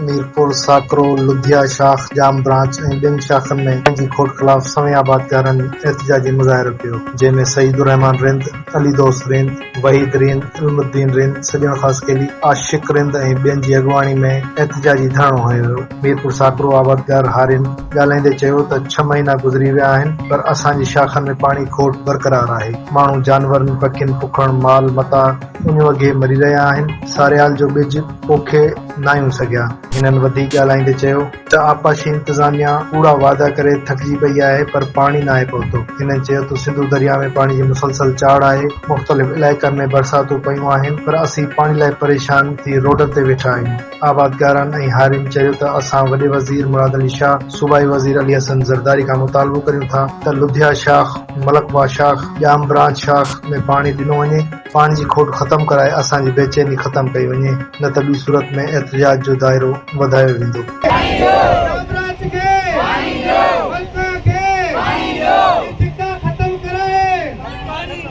ميرپور، ساڪرو، لڌيا شاخ، ڄام برانچ ۽ ٻين شاخن ۾ پنهنجي کوٽ خلاف سوين آبادگارن احتجاجي مظاهرو ڪيو، جنهن ۾ سعيد الرحمان رند، علي دوست رند، وحيد رند، علم الدين رند، سڄڻ خاصخيلي، عاشق رند ۽ ٻين جي اڳواڻي ۾ احتجاجي ڌرڻو هنيو ويو. ميرپور ساڪرو آبادگار هارين ڳالهائيندي چيو ته ڇهه مهينا گذري ويا آهن پر اسان جي شاخن ۾ پاڻي کوٽ برقرار آهي ماڻهو جانورن پکين پکڻ مال متاع اڃ وگهي مري رهيا آهن ساريال جو ٻج پوکي ناهيون سگهيا هنن وڌيڪ ڳالهائيندي چيو ته آبپاشي انتظاميا ڪوڙا وعدا ڪري ٿڪجي پئي آهي پر پاڻي ناهي پهتو هنن چيو ته سنڌو درياء ۾ پاڻي جي مسلسل چاڙهه آهي مختلف علائقن ۾ برساتون پيون آهن پر اسين پاڻي لاء پريشان ٿي روڊن تي ويٺا آهيون آبادگارن ۽ هارين چريو ته اسان وڏي وزير مراد علي شاهه، صوبائي وزير علي حسن زرداري کان مطالبو ڪريون ٿا ته لڌيا شاخ، ملڪبا شاخ، ڄام برانچ شاخ ۾ پاڻي ڏنو وڃي، پاڻي جي کوٽ ختم ڪرائي اسان جي بيچيني ختم ڪئي وڃي نه ته ٻي صورت ۾ احتجاج جو دائرو وڌايو ويندو.